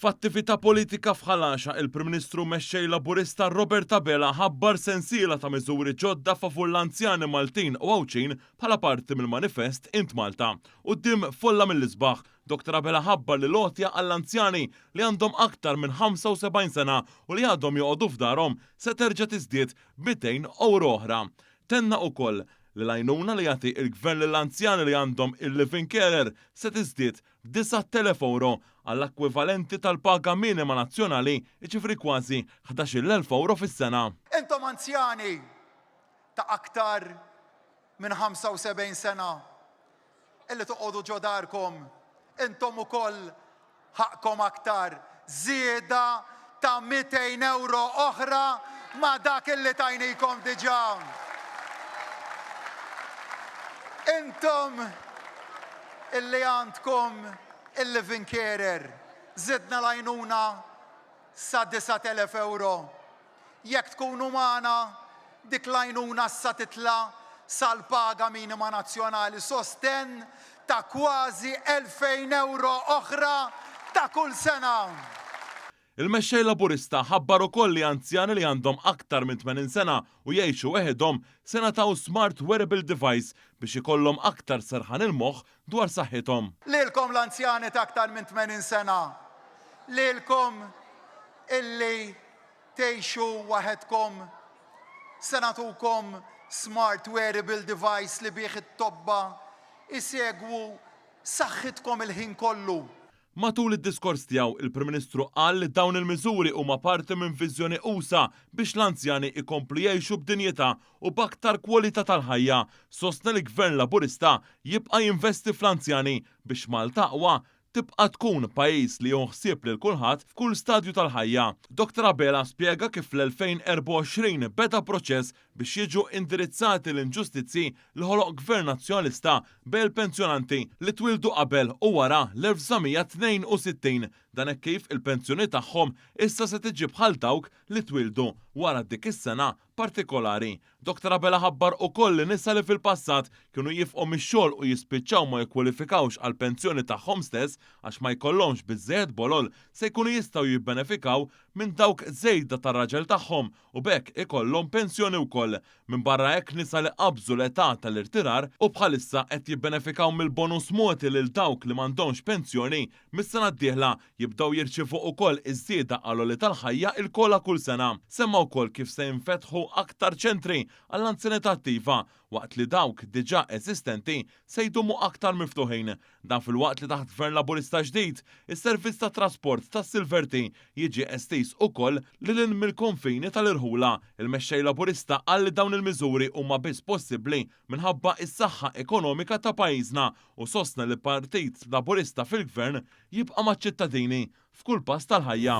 F'attività politika f'Ħal Għaxaq il-Prim Ministru Mexxej Laburista Robert Abela ħabbar sensiela ta' miżuri ġodda favur l-anzjani Maltin u Għawdxin bħala parti mill-manifest Int Malta. Quddiem folla mill-isbaħ, Dr Abela ħabbar li l-għotja għall-anzjani li għandhom aktar minn 75 sena u li għadhom joqogħdu f'darhom se terġa' tiżdied b' 200 ewro oħra. Tenna ukoll li l-għajnuna li jagħti il-Gvern lill-anzjani li għandhom il-live-in carer se tiżdied 9,000 ewro, għall-ekwivalenti tal-paga minima nazzjonali, jiġifieri kważi ħdax-il elf ewro fis-sena. Intom anzjani ta' aktar minn 75 sena illi toqgħodu ġo darkom, intom ukoll ħaqqkom aktar żieda ta' mitejn ewro oħra ma' dak li tajnikom diġà. Intom li għandkom il-living carer, żidna l-għajnuna sa 9,000 ewro. Jekk tkun umana, dik l-għajnuna issa titla' sal-paga minima nazzjonali, sostenn ta' kważi 2,000 ewro oħra ta' kull sena. Il-Mexxej Laburista ħabbar ukoll li anzjani li għandhom aktar minn 80 sena u jgħixu weħidhom se ngħataw smart wearable device biex ikollhom aktar serħan il-moħħ dwar saħħithom. Lilkom l-anzjani ta' aktar minn 80 sena, lilkom illi tgħixu waħedkom, se nagħtukom smart wearable device li bih it-tobba jsegwu saħħitkom il-ħin kollu. Matul id-diskors tiegħu, il-Prim Ministru qal li dawn il-miżuri huma parti minn viżjoni usa' biex l-anzjani jkomplu jgħixu b'dinjità u b'aktar kwalità tal-ħajja. Sostna li Gvern Laburista jibqa' jinvesti fl-anzjani biex Malta Aqwa tibqa' tkun pajjiż li jieħu ħsieb lil kulħadd f'kull stadju tal-ħajja. Dr Abela spjega kif fl-2024 beda proċess biex jiġu indirizzati l-inġustizzji li ħoloq Gvern Nazzjonalista bejn il-pensjonanti li twieldu qabel u wara l-1962, dan hekk kif il-pensjoni tagħhom issa se tiġi bħal dawk li twieldu wara dik is-sena partikolari. Dr Abela ħabbar ukoll li nisa li fil-passat kienu jifqu mix-xogħol u jispiċċaw ma jikkwalifikawx għall-pensjoni tagħhom stess għax ma jkollhomx biżżejjed bolol se jkunu jistgħu jibbenefikaw minn dawk żejda tar-raġel tagħhom u b'hekk ikollhom pensjoni wkoll. Minbarra hekk nisa li qabżu l-età tal-irtirar u bħalissa qed jibbenefikaw mill-bonus mogħti lil dawk li m'għandhomx pensjoni, mis-sena d-dieħla jibdew jirċievu ukoll iż-żieda għall-għoli tal-ħajja il-COLA kull sena. Semma wkoll kif se jinfetħu aktar ċentri għall-anzjanità attiva waqt li dawk diġà eżistenti se jdumu aktar miftuħin. Dan filwaqt li taħt Gvern Laburista ġdid, is-servizz tat-trasport tas-Silverty jiġi estiż ukoll lil hinn mill-konfini tal-irħula. Il-Mexxej Laburista qal li dawn il-miżuri huma biss possibbli minħabba is-saħħa ekonomika ta' pajjiżna u sostna li Partit Laburista fil-Gvern jibqa' maċ-ċittadini f'kull pass tal-ħajja.